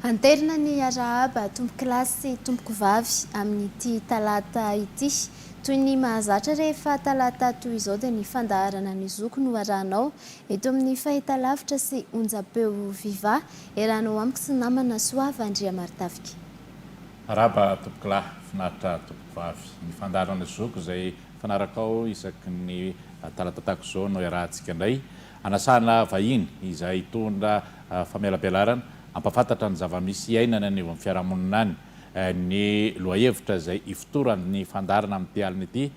Anterina ny hiarahaba tompon-kilasy sy tomponkovavy amin'ity talata ity. Toy ny mahazatra rehefa talata toy izao dia ny fandaharana ny zoky no arahanao Eto amin'ny fahitalavitra sy onjam-peo viva, iarahana ao amiko sy ny namana Soava Andriamartafika. Araba tompokolahy, finaritra tompokovavy. Ny fandaharan'ny zoko izay fanarakao isaky ny talatatak izao no iarahantsika indray, anasana vahiny izay hitondra famelabelarana, hampafantatra ny zava-misy iainana any anivon'ny fiarahamonina any. Ny lohahevitra izay ifotoran'ny fandaharana amin'ity alina ity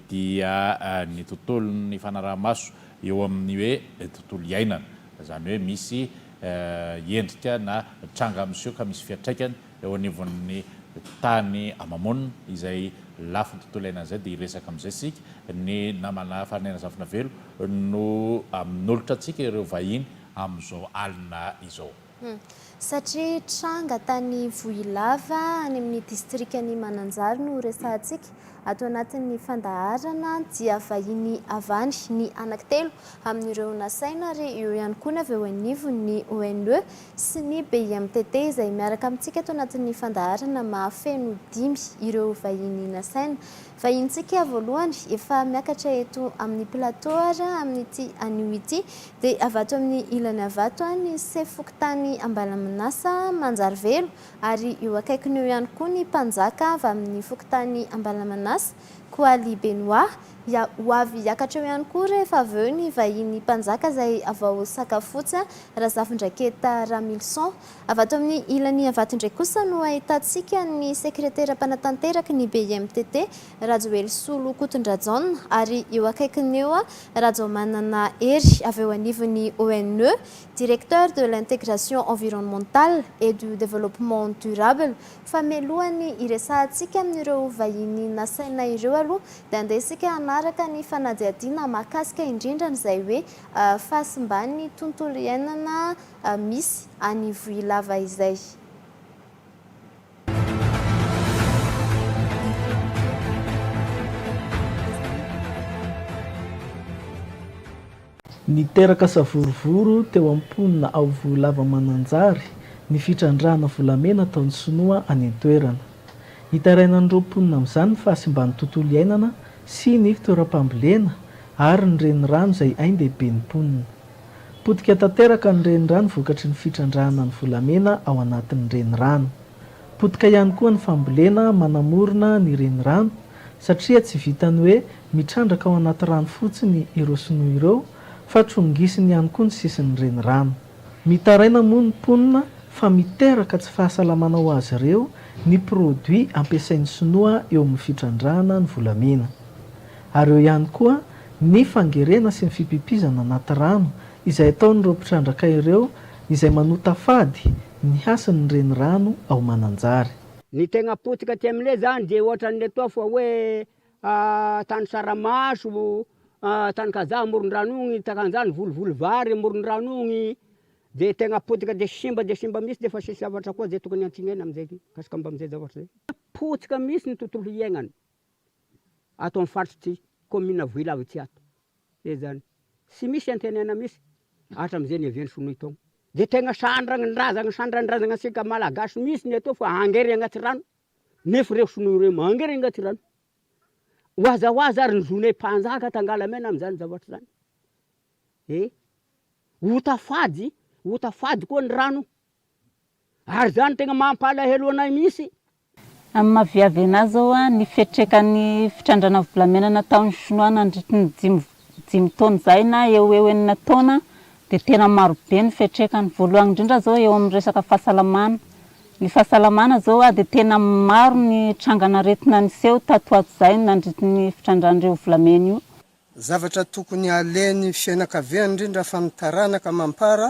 dia ny tontolon'ny fanaraha-maso eo amin'ny hoe tontolo iainana, izany hoe misy endrika na tranga miseho ka misy fiantraikany eo anivon'ny tany ama-monina, izay lafiny tontolo iainana izay dia hiresaka amin'izay isika, ny namana Farinena Zafinavelo no amin'olotra antsika ireo vahiny amin'izao alina izao. Hum. Satria tranga tany Vohilava any amin'ny distrikan'i Mananjary no resahantsika. Ato anatin'ny fandaharana dia vahiny avany ny anankitelo amin'ireo nasaina ary eo ihany koa ny avy eo anivon'ny ONE sy ny BIMTT izay miaraka amintsika ato anatin'ny fandaharana mahafeno dimy ireo vahiny nasaina. Vahinintsika voalohany efa miakatra eto amin'ny plateau ary amin'ity anio ity dia avy ato amin'ny ilany avy ato ny sefo fokontany Ambalaminasa Manjarivelo ary eo akaikiny eo ihany koa ny mpanjaka avy amin'ny fokontany Ambalamanasa Koaly Benoit dia ho avy hiakatra eo ihany koa rehefa avy eo ny vahiny mpanjaka izay avy ao Sakafotsy Razafindraketa Ramilison Avy ato amin'ny ilany Iavato indray kosa no ahitantsika ny sekretera mpanatanteraky ny BIMTT, Rajoelisolo Kotondrajaona, ary eo akaikiny eo, Rajaomanana Hery, avy eo anivon'ny ONE, Directeur de l'intégration environnementale et du développement durable, fa mialoha ny hiresahantsika amin'ireo vahiny nasaina ireo aloha dia andeha isika hanaraka ny fanadihadiana mahakasika indrindra an'izay hoe fahasimban'ny tontolo iainana misy any Ivohilava izay. Niteraka savorovoro teo amin'ny mponina ao Vohilava Mananjary ny fitrandrahana volamena ataon'ny sinoa any an-toerana. Hitarainan'ireo mponina amin'izany ny fahasimban'ny tontolo iainana sy ny toeram-pambolena ary ny renirano izay ain-dehiben'ny mponina. Potika tanteraka ny renirano vokatry ny fitrandrahana ny volamena ao anatin'ny renirano. Potika ihany koa ny fambolena manamorona ny renirano satria tsy vitan'ny hoe mitrandraka ao anaty rano fotsiny ireo sinoa ireo fa trongisiny ihany koa ny sisin'ny renirano. Mitaraina moa ny mponina fa miteraka tsy fahasalamana ho azy ireo ny produits ampiasain'ny sinoa eo amin'ny fitrandrahana ny volamena. ary eo ihany koa ny fangerena sy ny fipipizana anaty rano izay ataon'ireo mpitrandraka ireo izay manota fady ny hasin'ny renirano ao Mananjary. Ny tegna potika aty amle zany de ohatran'letoa fa hoe tany saramaso, tany kazaha amorondrano ogny takanzany volivoly vary amorondrano ogny de tegna potika de simba de simba mihitsy defa sisy zavatra koa zay tokony antsignaina amzay mikasika amzay zavatra zay, potika mihitsy ny tontolo iainana. ato amin'ny faritr'ity kaominina Vohilava ity ato ezany tsy misy antenaina mihitsy hatramin'izay niavian'ny sinoa itony dia tegna sandranindrazagna sandranindrazagna antsika malagasy mihitsy ny atao fa hangery agnaty rano nefa ireo sinoa ireo mangery agnaty rano ho aza ho aza ary ny zonay mpanjaka tangalamena amin'izany zavatra zany eh ho tafady ho tafady koa ny rano. Ary izany no tena mampalahelo anay mihitsy. Amin'ny maha viavena azy ao, ny fiatrekan'ny fitrandrana volamena nataon'ny Shinoa nandritry ny dimy dimy taona izay na eo ho eo enina taona dia tena maro be ny fiatrekany. Voalohany indrindra izao eo amin'ny resaka fahasalamana. Ny fahasalamana izao dia tena maro ny trangan'aretina niseho tato ho ato izay nandritry ny fitrandrahan'ireo volamena io. Zavatra tokony halehan'ny fianakaviana indrindra fa ny taranaka mampara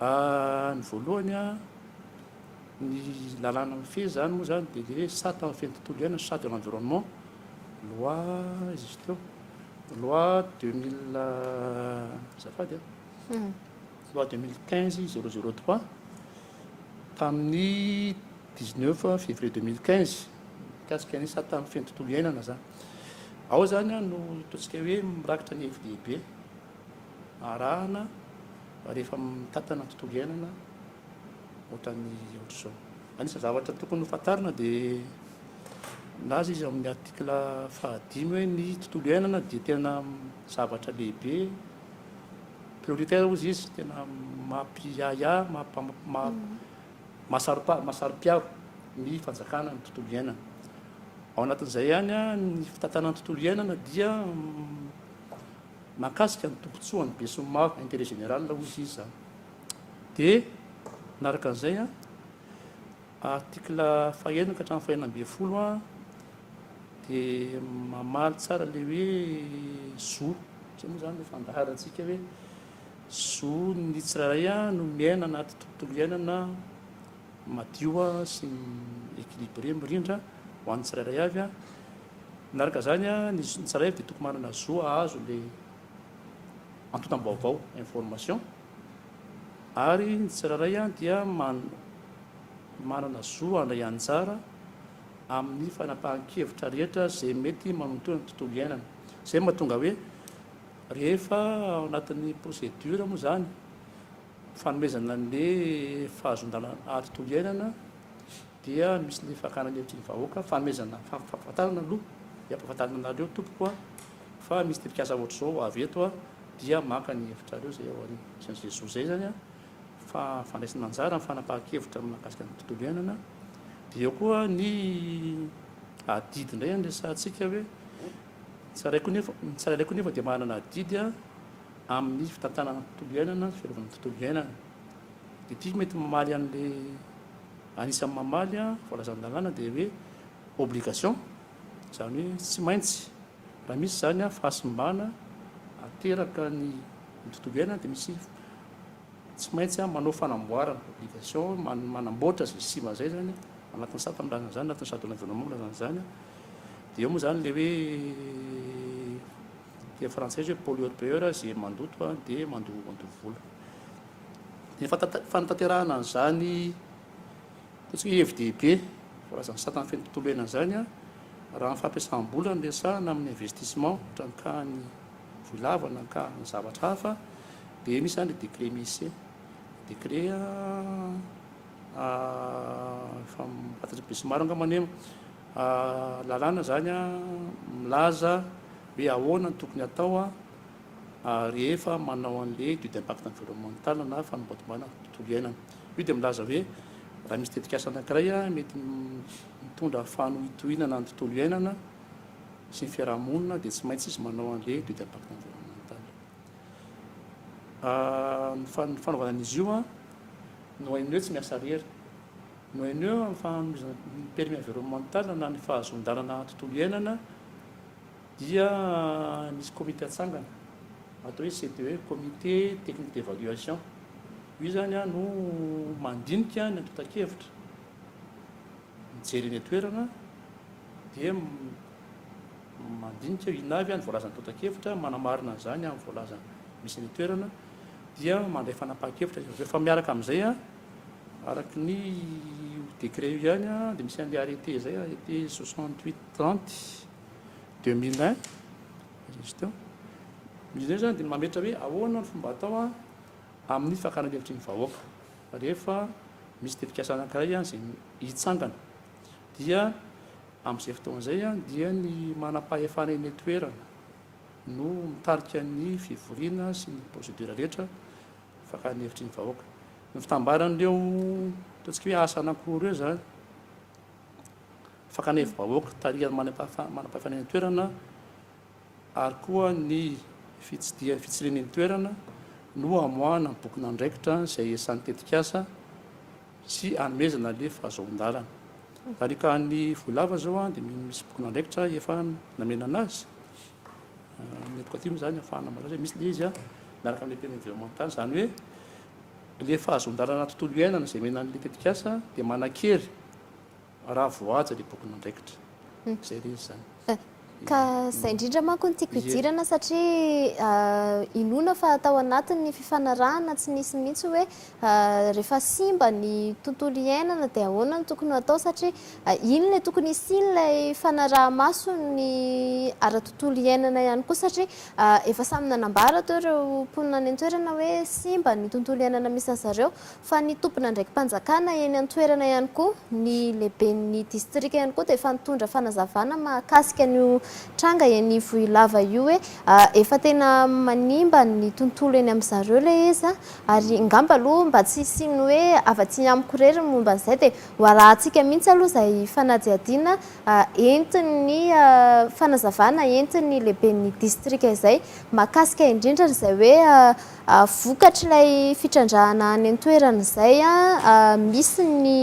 Ny voalohany a, ny lalàna mifehy izany moa izany dia ilay hoe sata mifehy ny tontolo iainana, chat de l'environnement, loi iza izy teo, loi deux mille, azafady a, loi deux mille quinze zéro zéro trois tamin'ny dix neuf février deux mille quinze mikasika ny sata mifehy ny tontolo iainana izany. Ao izany no ataontsika hoe mirakitra ny hevi-dehibe. arahana rehefa mitantana ny tontolo iainana ohatran'ny ohatr'izao. Anisan'ny zavatra tokony ho fantarina dia milaza izy amin'ny article fahadimy hoe ny tontolo iainana dia tena zavatra lehibe, prioritaire hozy izy, tena mampiahiahy, mahasaropiaro ny fanjakana ny tontolo iainana. Ao anatin'izay ihany ny fitantanana ny tontolo iainana dia Mahakasika ny tombotsoa an'ny besinimaro, intérêt général hoy izy izany. Dia manaraka an'izay an, article fahenina ka hatramin'ny fahenina ambin'ny folo an, dia mamaly tsara ilay hoe zo, izay moa izany no fandaharantsika hoe zo ny tsirairay an no miaina anaty tontolo iainana, madio sy équilibré mirindra ho an'ny tsirairay avy. Manaraka izany, ny tsirairay avy dia tokony manana zo hahazo ilay antontam-baovao, information, ary ny tsirairay dia manana zo handray anjara amin'ny fanapahan-kevitra rehetra izay mety manontoa ny tontolo iainana. Izay no mahatonga hoe rehefa ao anatin'ny procédure moa izany, Fanomezana ny fahazondana ary tontolo iainana dia misy ny fakana ny hevitry ny vahoaka, fanomezana fampahafantarana aloha dia ampahafantarina anareo tompoko a, fa misy tetikasa ohatr'izao avy eto a, dia maka ny hevitrareo izay ao aoriana. Izany ze zo zay izany a, fa fandraisana anjara amin'ny fanapahan-kevitra mahakasika ny tontolo iainana. Dia eo koa ny adidy indray no resahantsika hoe, ny tsirairay koa nefa, ny tsirairay koa nefa dia manana adidy a, amin'ny fitantanana ny tontolo iainana, fiarovana ny tontolo iainana. Dia ity mety mamaly an'ilay anisan'ny mamaly voalazan-dalàna dia hoe obligation, izany hoe tsy maintsy raha misy izany fahasimbana ateraka ny ny tontolo iainana dia misy tsy maintsy manao fanamboarana, obligation, manamboatra izay simba izay izany anatin'ny sata milazana izany, anatin'ny charte de l'environnement milazana izany. Dia eo moa izany ilay hoe Dia frantsay izy hoe pollueur payeur, izay mandoto dia mandoto vola. Dia fanatanterahana an'izany ataontsika hoe hevi-dehibe voalazan'ny satan'ny fen'ny tontolo iainana izany an, raha ny fampiasam-bola no resahana amin'ny investissement ohatra ankahan'ny vohy lava na ankahan'ny zavatra hafa dia misy izany ilay décret Messe, décret a, a, efa fantatr'i Besinimaro angambany io. Lalàna izany milaza hoe ahoana no tokony hatao rehefa manao an'ilay étude d'impact environnemental na fanambadimbana tontolo iainana. Io dia milaza hoe raha misy tetikasa anankiray mety mitondra fanohintohinana ny tontolo iainana sy ny fiarahamonina dia tsy maintsy izy manao an'ilay étude d'impact environnemental. Ny fanaovana an'izy io no hain'ny hoe tsy miasa irery. Mihainoa amin'ny fanomezana ny permis environnemental na ny fahazoan-dalana tontolo iainana dia misy komite atsangana atao hoe CTE, comité technique d'évaluation. Io izany no mandinika ny antontan-kevitra, mijery eny an-toerana dia mandinika inona avy ny voalazan'ny antontan-kevitra, manamarina an'izany amin'ny voalazany misy eny an-toerana dia mandray fanapahan-kevitra izy avy eo fa miaraka amin'izay Araka ny io décret io ihany dia misy an'ilay arrêté izay, arrêté 68 30 2001, Régistr. Izy ireny izany dia mametra hoe ahoana ny fomba atao amin'ny fakana hevitry ny vahoaka rehefa misy tetikasa anankiray izay hitsangana. Dia amin'izay fotoana izay dia ny manam-pahefana eny an-toerana no mitarika ny fivoriana sy ny procédure rehetra Afaka ny hevitry ny vahoaka. Ny fitambaran'ireo ataontsika hoe asa anankiroa ireo izany, fakana hevi-bahoaka tarihan'ny manam-pahefana eny an-toerana ary koa ny fitsidihan'ny fitsirina eny toerana no hamoahana ny bokin'andraikitra izay esan'ny tetikasa sy anomezana ilay fahazoan-dalana. Araka ny voalava izao dia misy bokin'andraikitra efa namenana azy. Ny éducatif moa zany afahana malaza hoe misy le izy miaraka amle tena environnemental zany hoe le fahazondalana tontolo iainana zay omena anle tetikasa de manakery raha voahaja le bokin'andraikitra zay le izy zany ka zay indrindra manko ny tiako idirana satria inoana fa atao anatin'ny fifanarahana tsy nisy mihitsy hoe Rehefa simba ny tontolo iainana dia ahoana no tokony ho atao satria iny ilay tokony hisiany ilay fanaraha-maso ny ara-tontolo iainana ihany koa satria efa samy nanambara teo ireo mponina any an-toerana hoe simba ny tontolo iainana misy an'i zareo fa ny tompon'andraiki-panjakana eny an-toerana ihany koa ny lehiben'ny distrika ihany koa dia efa nitondra fanazavana mahakasika an'io tranga eny Ivohilava io hoe efa tena manimba ny tontolo eny amin-dry zareo ilay izy Ary ngamba aloha mba tsy hisian'ny hoe afa-tsy amiko irery ny momba an'izay dia ho arahantsika mihitsy aloha izay fanadihadiana entin'ny fanazavana entin'ny lehiben'ny distrika izay mahakasika indrindra an'izay hoe vokatr'ilay fitrandrahana any an-toerana izay misy ny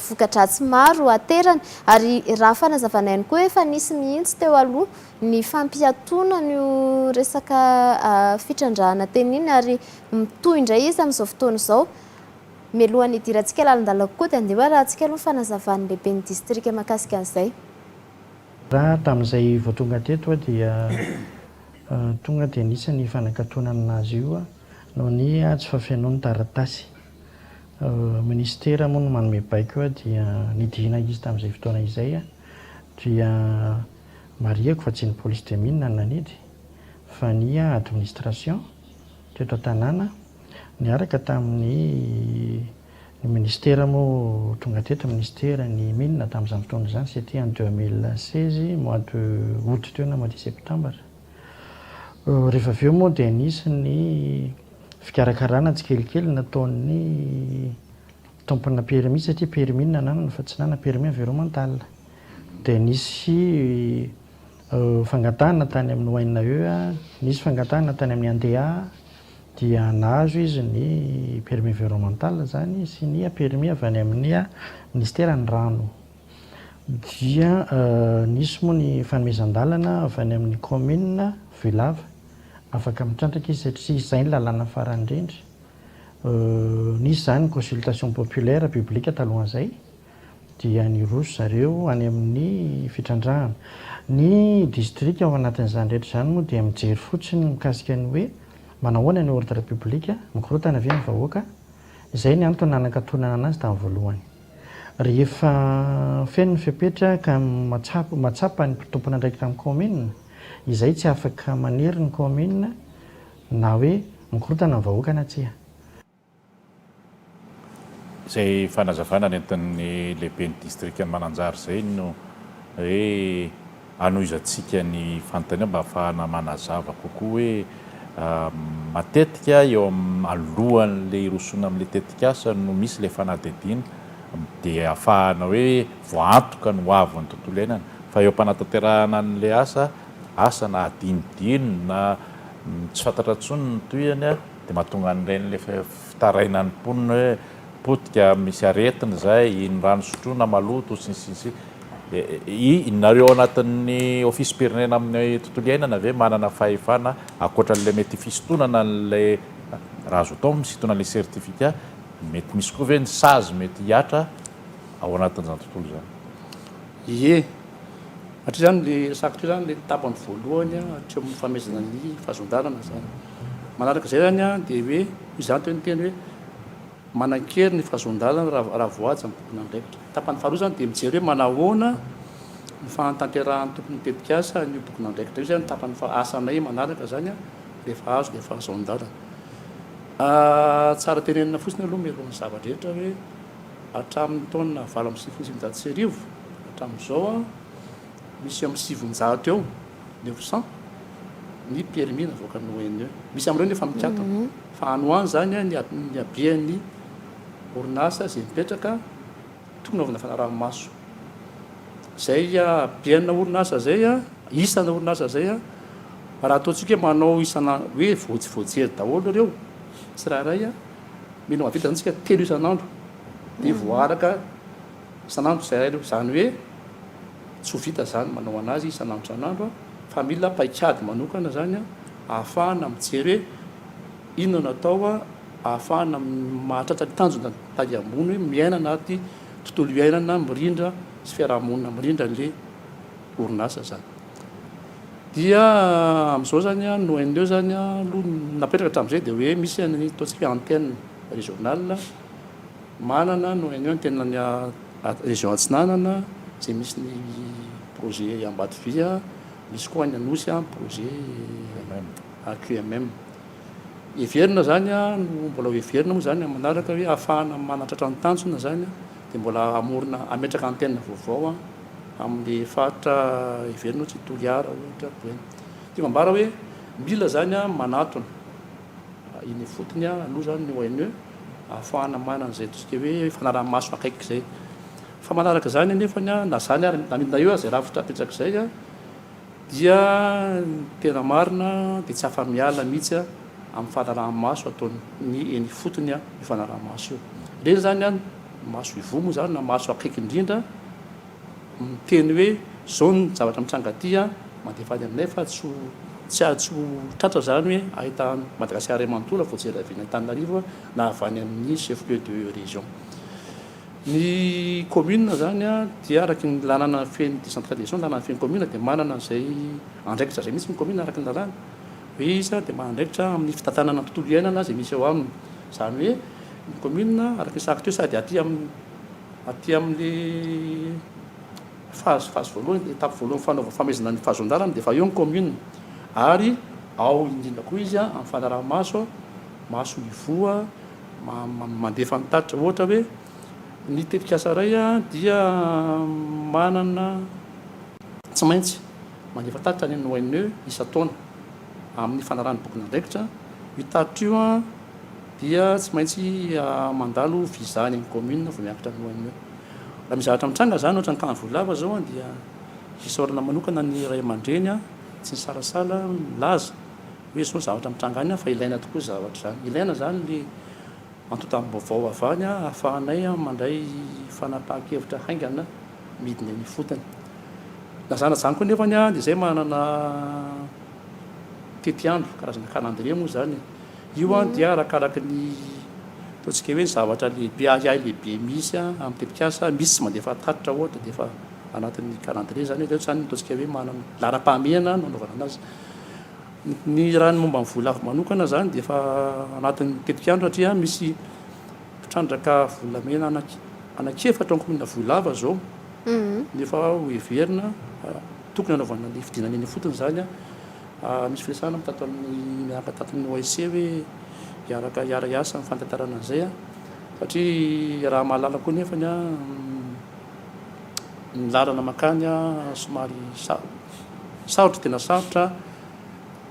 voka-dratsy maro aterany. Ary raha fanazavana ihany koa efa nisy mihitsy teo aloha ny fampiatoana an'io resaka fitrandrahana teny iny ary mitohy indray izy amin'izao fotoana izao. Mialohan'ny hidirantsika lalindalina kokoa dia andeha ho arahantsika aloha ny fanazavan'ny lehiben'ny distrika mahakasika an'izay. Raha tamin'izay vao tonga teto aho dia tonga dia nisy ny fanakatonana azy io noho ny tsy fafenoany taratasy. Minisitera moa no manome baiko dia nidina izy tamin'izay fotoana izay dia Marihiko fa tsy ny polisy Dramina no nanidy fa ny administration teto an-tanàna niaraka tamin'ny ny ministera moa tonga teto ministera ny mines tamin'izany fotoana izany c'était en 2016 mois de aout teo na mois de septembre rehefa avy eo moa dia nisy ny fikarakarana tsikelikely nataon'ny Tompona permis satria permis no nananana fa tsy nanana permis environnemental. Dia nisy fangatahana tany amin'ny ONAE, nisy fangatahana tany amin'ny ANDEA dia nahazo izy ny permis environnemental izany sy ny permis avy any amin'ny minisiteran'ny rano. Dia nisy moa ny fanomezan-dalana avy any amin'ny kaominina Vohilava. Afaka mitrandraka izy satria izay ny lalàna farany indrindra. Nisy izany ny consultation populaire publique talohan'izay dia niroso zareo any amin'ny fitrandrahana. Ny distrika ao anatin'izany rehetra izany moa dia mijery fotsiny ny mikasika ny hoe manahoana ny ordre public, mikorontana ve ny vahoaka? Izay ny antony nanakatonana anazy tamin'ny voalohany. Rehefa feno ny fepetra ka mahatsapa ny tompon'andraikitra amin'ny kaominina, izay tsy afaka manery ny kaominina, Na hoe mikorontana ny vahoaka na tsia. Izay fanazavana nentin'ny lehiben'ny distrikan'i Mananjary izay no hoe hanohizantsika ny fanontaniana mba hahafahana manazava kokoa hoe matetika eo amin'ny alohan'ilay hirosoana amin'ilay tetikasa no misy ilay fanadihadiana dia hahafahana hoe voaantoka ny hoavin'ny tontolo iainana fa eo am-panatanterahana an'ilay asa, asa na hadinodino na. Tsy fantatra intsony ny tohiny a! Dia mahatonga an'ireny ilay fitarainan'ny mponina hoe potika, misy aretina izay, iny rano sotroina maloto, sy ny sisa sy ny sisa. Nareo ao anatin'ny ofisim-pirenena amin'ny tontolo iainana ve manana fahefana ankoatra an'ilay mety fisintonana an'ilay raha azo atao misintonana an'ilay certificat, mety misy koa ve ny sazy mety hihatra ao anatin'izany tontolo izany? Ie. Hatry izany le resako teo zany le tapany voalohany hatry amin'ny famehezana ny fahazon-dalana zany. Manaraka izay zany dia hoe izany teo ny teny hoe manan-kery ny fahazon-dalana raha voahaja ny tompon'andraikitra. Tapany faharoa zany dia mijery hoe manahoana ny fahatanterahan'ny tompon'ny tetikasa an'io tompon'andraikitra io. Izay no tapany faha asanay manaraka zany rehefa azo le fahazon-dalana. Tsara tenenina fotsiny aloha mialohan'ny zava-drehetra hoe. Hatramin'ny taona valo amby sivifolo sy sivinjato sy arivo hatramin'izao, misy eo amin'ny sivinjato eo, neuf cents, ny permis navoakan'ny ONE. Misy amin'ireo ny efa mikatona. Fa any ho any izany ny habean'ny orinasa izay mipetraka tokony hanaovana fanaraha-maso. Izay habeana orinasa izay, isana orinasa izay, raha ataontsika hoe manao isan'andro, hoe voajery daholo ireo tsirairay, Mila mahavita izany isika telo isan'andro dia voaaraka isan'andro izay ilaina. Izany hoe tsy ho vita izany manao an'azy isan'andro isan'andro fa mila paikady manokana izany ahafahana mijery hoe inona no atao ahafahana mahatratra ny tanjona ny tahy ambony hoe miaina anaty tontolo iainana mirindra sy fiarahamonina mirindra ilay orinasa izany. dia amin'izao zany an ny ONE zany aloha ny napetraka hatramin'izay dia hoe misy ny ataontsika hoe antenne régionale manana ny ONE ny tenany région atsinanana izay misy ny projet Ambatovia misy koa any Anosy ny projet AQMM heverina zany an no mbola ho heverina moa zany amin'ny manaraka hoe hahafahana manatratra ny tanjona zany dia mbola hamorona hametraka antenne vaovao an Amin'ny faritra heverina hoe tsy Toliara ohatra dia ity mambara hoe mila izany manatona eny ifotony aloha izany ny ONE ahafahana manana izay atosika hoe fanaraha-maso akaiky izay. Fa manaraka izany anefa na izany ary na midina eo aza izay rafitra apetsaka izay dia ny tena marina dia tsy afa-miala mihitsy amin'ny fanaraha-maso ataon'ny eny ifotony io fanaraha-maso io. Ireny izany Maso ivoho moa izany na maso akaiky indrindra miteny hoe izao ny zavatra mitranga aty an, mandefa any aminay fa tsy ho tsy ho tratra izany hoe ahitany Madagasikara iray manontolo voajery avy eny Antananarivo na avy any amin'ny chef lieu de région. Ny commune izany an dia araka ny lalàna feno décentralisation, lalàna feno commune dia manana izay andraikitra izay mihitsy ny commune araka ny lalàna. Be isa dia manana andraikitra amin'ny fitantanana ny tontolo iainana izay misy eo aminy. Izany hoe ny kaominina, araka ny sahako teo, sady aty amin'ny aty amin'ilay phase phase voalohany, étape voalohany fanaovana famaizana ny fahazon-dalana dia efa eo ny kaominina. Ary ao indrindra koa izy amin'ny fanaraha-maso, maso mivoha, mandefa ny tatitra. Ohatra hoe ny tetikasa iray dia manana. Tsy maintsy mandefa tatitra ny ONE isan-taona amin'ny fanarahana ny bokin'andraikitra. Io tatitra io dia tsy maintsy mandalo visa any amin'ny commune vao miakatra ny ONE. Raha misy zavatra mitranga izany, ohatra ny tany Vohilava izao, dia isaorana manokana ny ray aman-dreny tsy nisalasala nilaza hoe izao ny zavatra mitranga any fa ilaina tokoa izany zavatra izany. Ilaina izany ny antontam-baovao avy any ahafahanay mandray fanapahan-kevitra haingana. midina eny ifotony. Lazana izany koa nefany dia izay manana tetiandro, karazana calendrier moa izany e. Io an dia arakaraky ny ataontsika hoe ny zavatra lehibe ahiahy lehibe misy an amin'ny tetikasa, misy tsy mandefa tatitra ohatra dia efa anatin'ny calendrier izany hoe izany no ataontsika hoe manana laharam-pahamehana no anaovana anazy. Ny raha ny momba ny voalavo manokana izany dia efa anatin'ny tetikandro satria misy Mpitrandraka volamena anankiefatra ao kaominina Vohilava izao no efa hoheverina. Tokony hanaovana ny fidinana eny ifotony izany. Misy firesahana moa tato amin'ny miaraka tato amin'ny OIC hoe hiaraka hiara-hiasa amin'ny fantantarana an'izay satria raha mahalala koa anefa ny lalana mankany somary sarotra, tena sarotra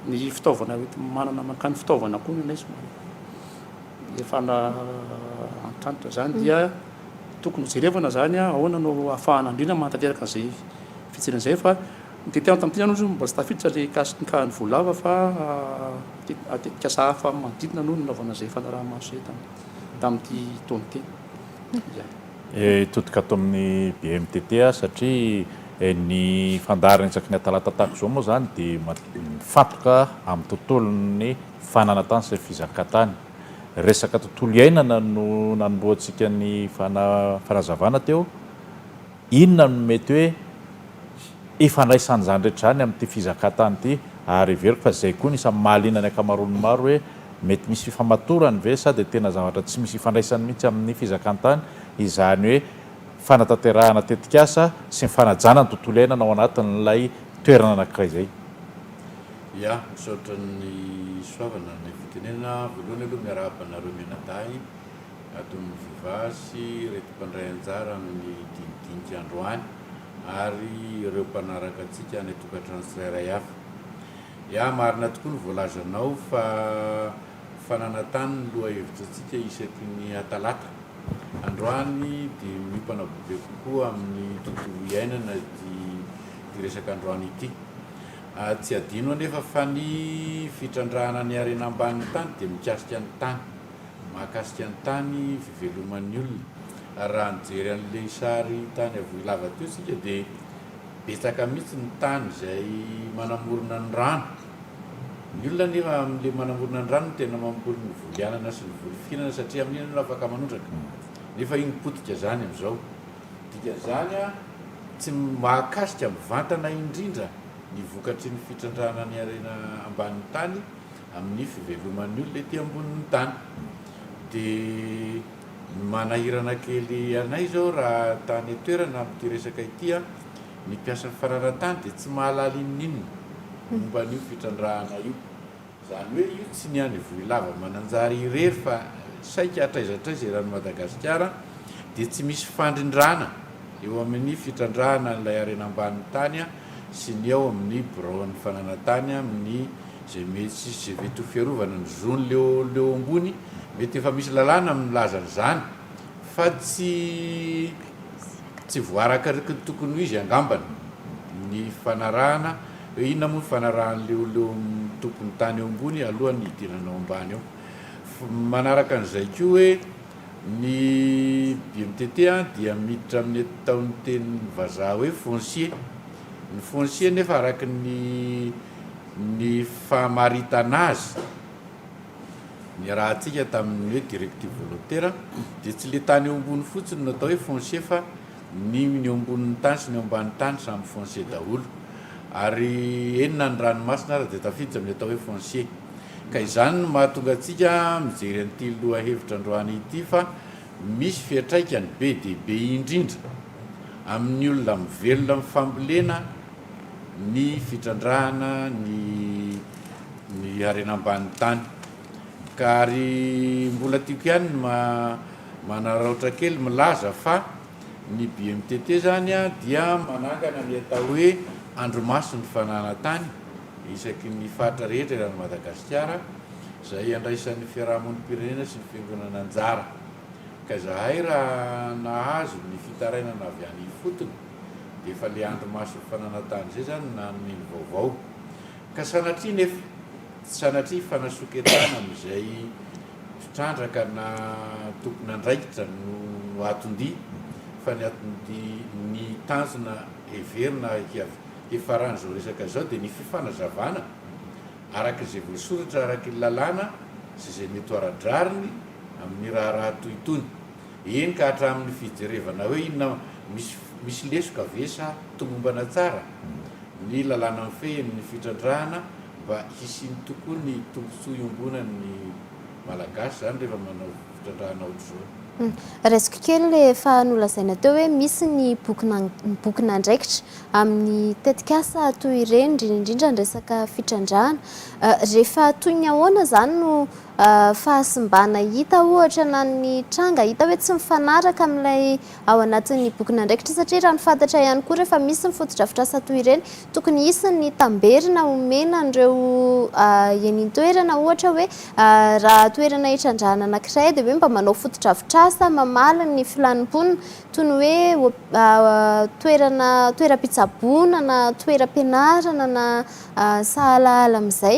ny fitaovana hoenti-manana mankany, fitaovana koa ny anay somary. Efa nahantratra izany dia tokony hojerevana izany ahoana no ahafahana andriana manatanteraka an'izay fijirana izay fa ny tetikasa tamin'ity aloha mbola tsy tafiditra ilay hikasikan'ny voalava fa tetikasa hafa manodidina no nanaovana izay fanaraha-maso izay tamin'ity taona ity. Hitodika ato amin'ny BMTT aho satria ny fandaharan'isaky ny atalata tahaka izao moa izany dia mifantoka amin'ny tontolon'ny. Fananantany sy ny fizakan-tany. Resaka tontolo iainana no nanombohantsika ny fanazavana teo. Inona no mety hoe ifandraisan'izany rehetra izany amin'ity fizakan-tany ity? Ary heveriko fa izay koa no isan'ny mahaliana ny ankamaroan'ny maro hoe mety misy fifamatorany ve sa dia tena zavatra tsy misy ifandraisany mihitsy amin'ny fizakan-tany izany hoe fanatanterahana tetikasa sy ny fanajana ny tontolo iainana ao anatin'ilay toerana anankiray izay? Ya, misaotra ny soavana ny fitenenana. Voalohany aloha miarahaba anareo mianadahy ato Mivova sy ireto mpandray anjara amin'ny dinidinika androany ary ireo mpanaraka antsika any an-tokantrano tsirairay avy. Ya, marina tokoa ny voalazanao fa fananantany ny lohahevitry antsika isaky ny Talata. Androany dia miompana bebe kokoa amin'ny tontolo iainana ity resaka androany ity. Tsy hadino anefa fa ny fitrandrahana ny harena ambanin'ny tany dia mikasika ny tany. Mahakasika ny tany, fiveloman'ny olona. Raha nijery an'ilay sary tany Avohilava teo isika dia betsaka mihitsy ny tany izay manamorona ny rano. Ny olona anefa amin'ilay manamorona ny rano no tena mamboly ny voly anana sy ny voly firana satria amin'iny ianao afaka manondraka. Nefa iny potika izany amin'izao. Dikan'izany, tsy mahakasika mivantana indrindra ny vokatry ny fitrandrahana ny harena ambanin'ny tany amin'ny fiveloman'ny olona ety ambonin'ny tany. Dia ny manahirana kely anay izao raha tany an-toerana amin'ity resaka ity, ny mpiasa fananan-tany dia tsy mahalala inon'inona momba an'io fitrandrahana io. Izany hoe io tsy ny any Ivohilava Mananjary irery fa saika hatraiza hatraiza eran'i Madagasikara dia tsy misy fandrindrana eo amin'ny fitrandrahana an'ilay harena ambanin'ny tany sy ny ao amin'ny biraon'ny fananantany amin'ny izay mety sy izay vety ho fiarovana ny zon'leo ambony mety efa misy lalàna milaza an'izany fa tsy voarakariky ny tokony ho izy angambany ny fanarahana Hoe inona moa ny fanarahan'ny olona eo amin'ny tompon'ny tany eo ambony alohan'ny hidirany ao ambany ao. Manaraka an'izay koa hoe ny BMTT dia miditra amin'ny ataon'ny teny vazaha hoe foncier. Ny foncier nefa araka ny ny famaritana azy niarahantsika tamin'ny hoe directive volontaire dia tsy ilay tany eo ambony fotsiny no atao hoe foncier fa Ny ny eo ambonin'ny tany sy ny eo ambanin'ny tany samy foncier daholo. Ary eny na ny ranomasina aza dia tafiditra amin'ny atao hoe foncier. Ka izany no mahatonga antsika mijery an'ity lohahevitra androany ity fa misy fiantraikany be dia be indrindra amin'ny olona mivelona amin'ny fambolena ny fitrandrahana ny ny harena ambanin'ny tany. Ka ary mbola tiako ihany ny ma. Manararaotra kely milaza fa ny BMTT izany dia manangana ny atao hoe andrimason'ny fananantany isaky ny faritra rehetra eran'i Madagasikara izay iandraisan'ny fiarahamonim-pirenena sy ny fiangonana anjara. Ka izahay raha nahazo ny fitarainana avy any ifotony dia efa ilay andrimason'ny fananantany izay izany no nanome ny vaovao. Ka sanatria nefa, tsy sanatria fa nasoketana amin'izay. mpitrandraka na tompon'andraikitra no aton-dia fa ny aton-dia, ny tanjona heverina hiafaran'izao resaka izao dia ny fifanazavana araka izay voasoratra araka ny lalàna sy izay mety ho ara-drariny amin'ny raharaha toy itony, eny ka hatramin'ny fijerevana hoe inona misy lesoka ve sa tomombana tsara ny lalàna mifehy ny fitrandrahana Mba hisiany tokoa ny tombotsoa iombonany ny Malagasy zany rehefa manao fitrandrahana ohatr'izao. Raisiko kely le efa nolazaina teo hoe misy ny bokin'an bokin'andraikitra amin'ny tetik'asa toy ireny indrindra indrindra ny resaka fitrandrahana. Rehefa toy ny ahoana zany no fahasimbana hita ohatra na ny tranga hita hoe tsy mifanaraka amin'ilay ao anatin'ny bokin'andraikitra satria raha ny fantatra ihany koa rehefa misy ny fotodrafitrasa toy ireny tokony hisy ny tamberina omena an'ireo eny intoerana ohatra hoe raha toerana hitrandrahana anankiray dia hoe mba manao fotodrafitrasa mamaly ny filan'ny mponina toy ny hoe toerana toeram-pitsaboana na toeram-pianarana na sahalahala amin'izay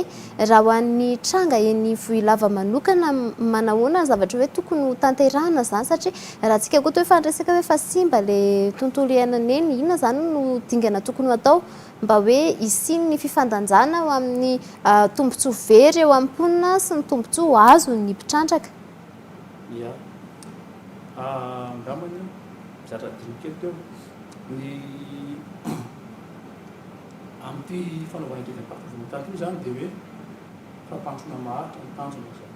raha ho an'ny tranga eny ivohilava manokana manahoana ny zavatra hoe tokony ho tanterahina izany satria Raha antsika koa toa efa niresaka hoe efa simba ilay tontolo iainana eny, inona izany no dingana tokony ho atao mba hoe hisian'ny fifandanjana ho amin'ny tombontsoa very eo amin'ny mponina sy ny tombontsoa azon'ny mpitrandraka? Ia. Angamba aloha mizatra adino kely teo ny amin'ity fanaovana didim-pako volana tato io izany dia hoe fampandrosoana maharitra no tanjona izany.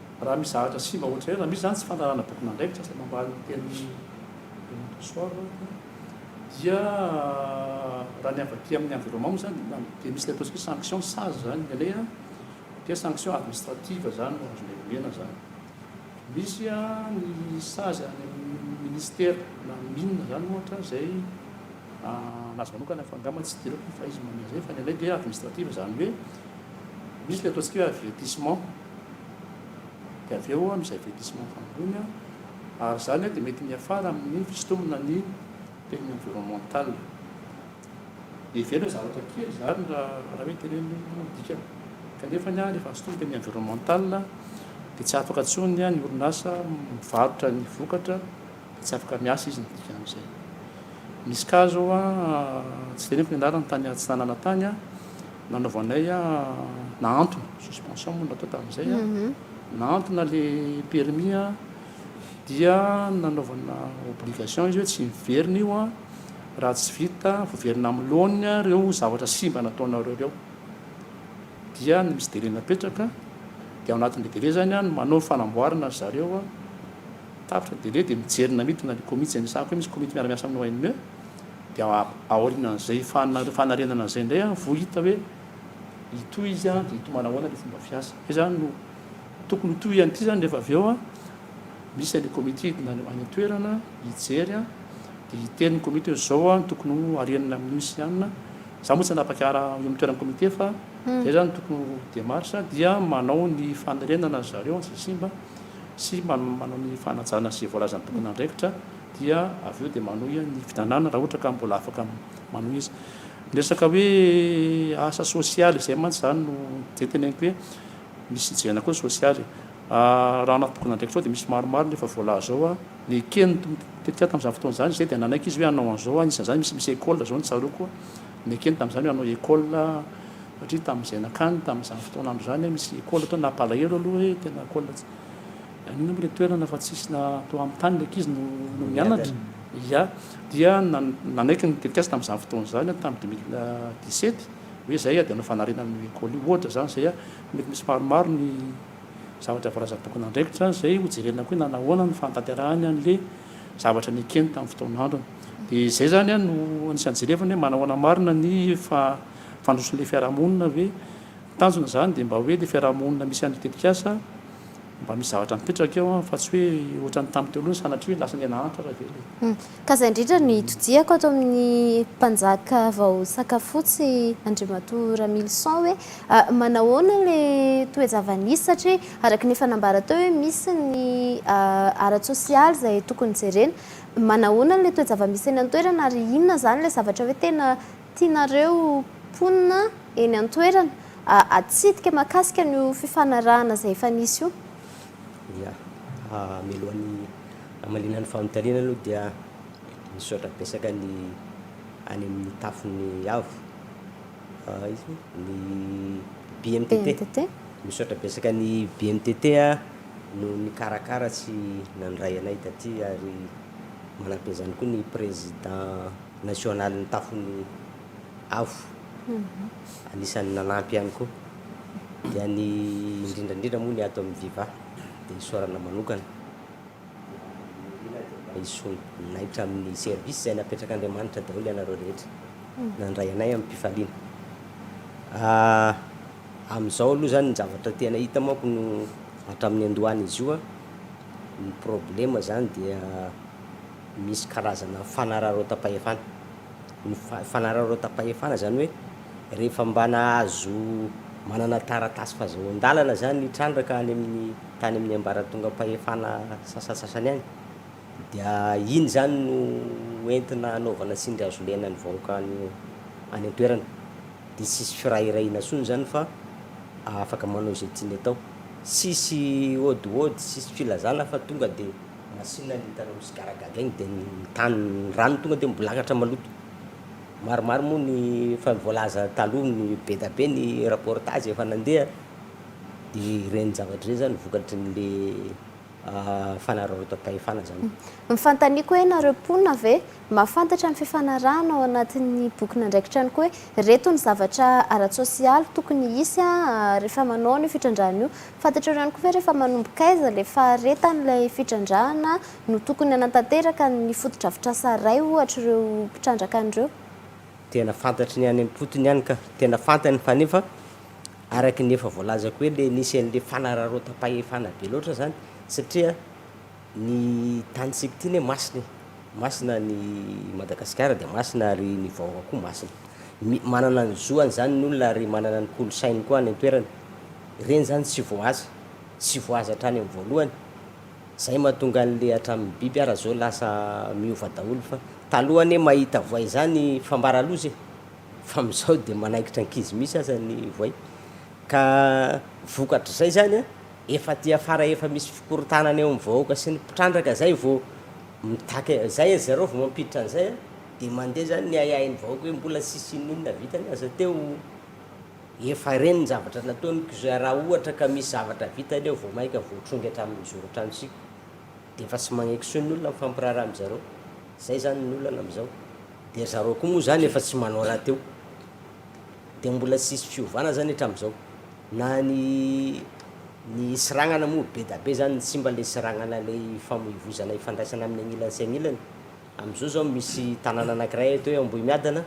Raha misy zavatra simba ohatr'izay, raha misy izany tsy fanarahana bokin'andraikitra izay mambaly ny tenin'i Renato Soave dia raha ny avy aty amin'ny environnement moa izany dia misy ilay ataontsika hoe sanction sazy izany ny anay dia sanction administrative izany no azonay omena izany. Misy ny sazy any amin'ny ministera na ny mines izany ohatra izay an'azy manokana fa angamba tsy idirako fa izy manome izay fa ny anay dia administrative izany hoe misy ilay ataontsika hoe avertissement. dia avy eo amin'izay verdissement famonoany an! ary izany dia mety miafara amin'ny fisintomana ny teny environnemental heverina zavatra kely izany raha hoe teneniny ny dikany kanefa ny an efa sintominy teny environnemental dia tsy afaka intsony ny orinasa mivarotra ny vokatra Tsy afaka miasa izy ny dikan'izay. Misy cas zao a, tsy teneniko ny anarany, tany Atsinanana tany a, nanaovanay a, nahantona, suspension moa no natao tamin'izay a, nahantona le permis a, dia nanaovana obligation izy hoe tsy miverina io a, raha tsy vita voverina amin'ny laoniny a reo zavatra simba nataonareo reo. Dia misy délai napetraka, dia ao anatin'le délai zany a no manao ny fanamboarana ry zareo a. Tapitra dia dia mijery na midina ny komity izay nisahako hoe misy komity miara-miasa amin'ny ONE dia aorianan'izay fanarenana an'izay indray aho vao hita hoe hitohy izy dia hitohy manahoana ny fomba fiasa hoe izany no tokony ho tohiny ity izany rehefa avy eo misy any komity hidina any an-toerana hijery dia hiteny ny komity hoe izao no tokony ho arenina amin'io sy anona za moa tsy hanapakara eo amin'ny toeran'ny komity fa izay izany tokony ho demarche dia manao ny fanarenana zareo antsy simba sy manao ny fanajana izay voalazan'ny tompon'andraikitra dia avy eo dia manohy ny fitanana raha ohatra ka mbola afaka manohy izy. Ny resaka hoe asa sosialy izay mantsy izany no izay teneniko hoe misy hijerena koa ny sosialy. Raha anaty bokin'andraikitrao dia misy maromaro ny efa voalaza ao. Ny eken'ny tetikady tamin'izany fotoana izany izay dia nanaiky izy hoe hanao an'izao, anisan'izany misy misy école izao no tsaroako. Nekeny tamin'izany hoe hanao école satria tamin'izay nankany tamin'izany fotoana andro izany misy école teo nampalahelo aloha hoe tena école tsy inona moa ilay toerana fa tsisy na teo amin'ny tany ilay ankizy no no mianatra ya dia nanaiky ny tetikasa tamin'izany fotoana izany tamin'ny 2017 hoe izay dia hanao fanariana ny école io ohatra izany izay mety misy maromaro ny zavatra voalazan'ny tomponandraikitra izay hojerena koa na nahoana ny fanatanterahany an'ilay zavatra nekeny tamin'ny fotoan'androny. Dia izay izany no anisan'ny jerevana hoe manahoana marina ny fandrosoan'ilay fiarahamonina ve? Ny tanjona izany dia mba hoe ilay fiarahamonina misy an'io tetikasa mba misy zavatra mipetraka eo fa tsy hoe ohatran'ny tamin'ny teo aloha sanatria hoe lasa niha-nahantra raha velona e. Ka izay indrindra no itodihako ato amin'ny mpanjaka vao sakafotsy Andriamatoa Ramilison hoe manahoana ilay toe-java-nisy satria Araka ny efa nambara teo hoe misy ny ara-tsosialy izay tokony jerena. Manahoana ilay toe-javamisy eny an-toerana ary inona izany ilay zavatra hoe tena tianareo mponina eny an-toerana atsidika mahakasika an'io fifanarahana izay efa nisy io? Ia. Mialohan'ny hamaliana ny fanontaniana aloha dia misaotra betsaka ny any amin'ny tafon'ny avo. BNTT. Misaotra betsaka ny BNTT noho ny nikarakara sy nandray anay taty ary manampy an'izany koa ny Président National ny tafon'ny avo anisan'ny nanampy ihany koa. Dia ny indrindra indrindra moa ny ato amin'ny Viva dia isaorana manokana. Naitra amin'ny service izay napetrak'Andriamanitra daholo ianareo rehetra. Nandray anay amim-pifaliana. Amin'izao aloha izany ny zavatra tena hita manko no hatramin'ny andohany izy io, ny problema izany dia misy karazana fanararaotam-pahefana. Ny fanararaotam-pahefana izany hoe rehefa mba nahazo manana taratasy fahazoan-dalana izany ny trandraka any amin'ny tany amin'ny ambaratongam-pahefana sasantsasany any dia iny izany no entina hanaovana tsindry hazo lena ny vahoaka any any an-toerana dia tsisy firahirahina intsony izany fa afaka manao izay tiany atao, tsisy ôdiôdy, tsisy filazana fa tonga dia. Masina ny hitanao misy gara gaga iny dia ny tany, ny rano tonga dia mibolangatra maloto. Maromaro moa ny efa voalaza taloha ny be da be ny reportage efa nandeha dia ireny zavatra ireny zany vokatry ny le fanararaotam-pahefana zany. Ny fanontaniako hoe nareo mponina ve Mahafantatra ny fifanarahana ao anatin'ny bokin'andraikitra ihany koa hoe ireto ny zavatra ara-tsosialy tokony hisy rehefa manao an'io fitrandrahana io. Fantatrareo ihany koa ve rehefa manombok'aiza ilay faharetan'ilay fitrandrahana no tokony hanatanteraka ny fotodrafitrasa iray ohatra ireo mpitrandraka an'ireo? Tena fantatry ny any am-potony ihany ka. Tena fantany fa nefa araka ny efa voalazako hoe ilay nisy an'ilay fanararaotam-pahefana be loatra izany satria. Ny tany tsy mpitiana e masina e. Masina ny Madagasikara dia masina ary ny vahoaka koa masina. Mi, manana ny zoany izany ny olona ary manana ny kolosainy koa any an-toerana. Ireny izany tsy voahaza. Tsy voahaza hatrany amin'ny voalohany. Izay mahatonga an'ilay hatramin'ny biby ara izao lasa miova daholo fa taloha anie mahita voay izany fambara loza e. Fa amin'izao dia manaikitra ankizy mihitsy aza ny voay. Ka vokatr'izay izany an, Efa aty afara efa misy fikorontanana eo am vahoaka sy ny mpitrandraka zay vo mitaky zay a zareo vo mampiditra anzay a de mande zany ny ahiahy ny vahoaka oe mbola tsisy inon'inona vitany aza teo efa reny ny zavatra nataony kza ra ohatra ka misy zavatra vitany eo vo maika voatrongy atramin'ny zoron-trano sika de efa tsy magneky soa ny olona mifampiraharaha am zareo zay zany ny olana am zao de zareo koa moa zany efa tsy manao rahateo. Dia mbola tsy hisy fiovana zany hatramin'izao? Na ny ny seranana moa bedabe zany tsy mba le seranana le ifamoivozana ifandraisana amin'ny agnilany sy agnilany. Amin'izao zao misy tanàna anakiray eto hoe Ambohimiadana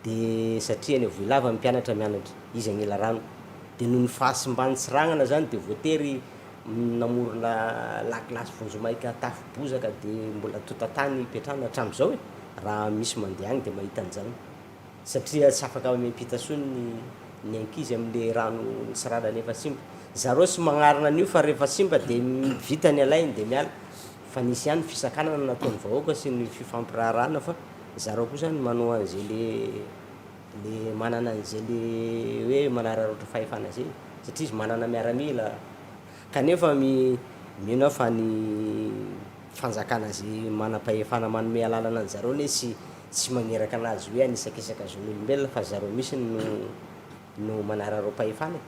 dia satria any Avohilava ny mpianatra mianatra, izy Agnilarano, dia noho ny fahasimban'ny seranana zany dia voatery namorona lakilasy vonjimaika tafo bozaka dia mbola tontatany ipetrahana hatramin'izao e! raha misy mandeha any dia mahita an'izany. satria tsy afaka mamem-pita tsony ny ny ankizy amin'le rano nitsiranany efa simba, zareo tsy magnarina an'io fa rehefa simba de vita ny alainy de miala, fa nisy ihany ny fisakanana nataon'ny vahoaka sy ny fifampiraharahana fa zareo koa zany manao an'ze le le manana an'ze le hoe manararaotra fahefana ze, satria izy manana miaramila, kanefa mi- mino aho fa ny fanjakana ze manam-pahefana manome alalana an'zareo anie tsy Tsy maneraka anazy hoe anisakisaka zon'olombelona fa zareo misiny no no manararaompahefana e!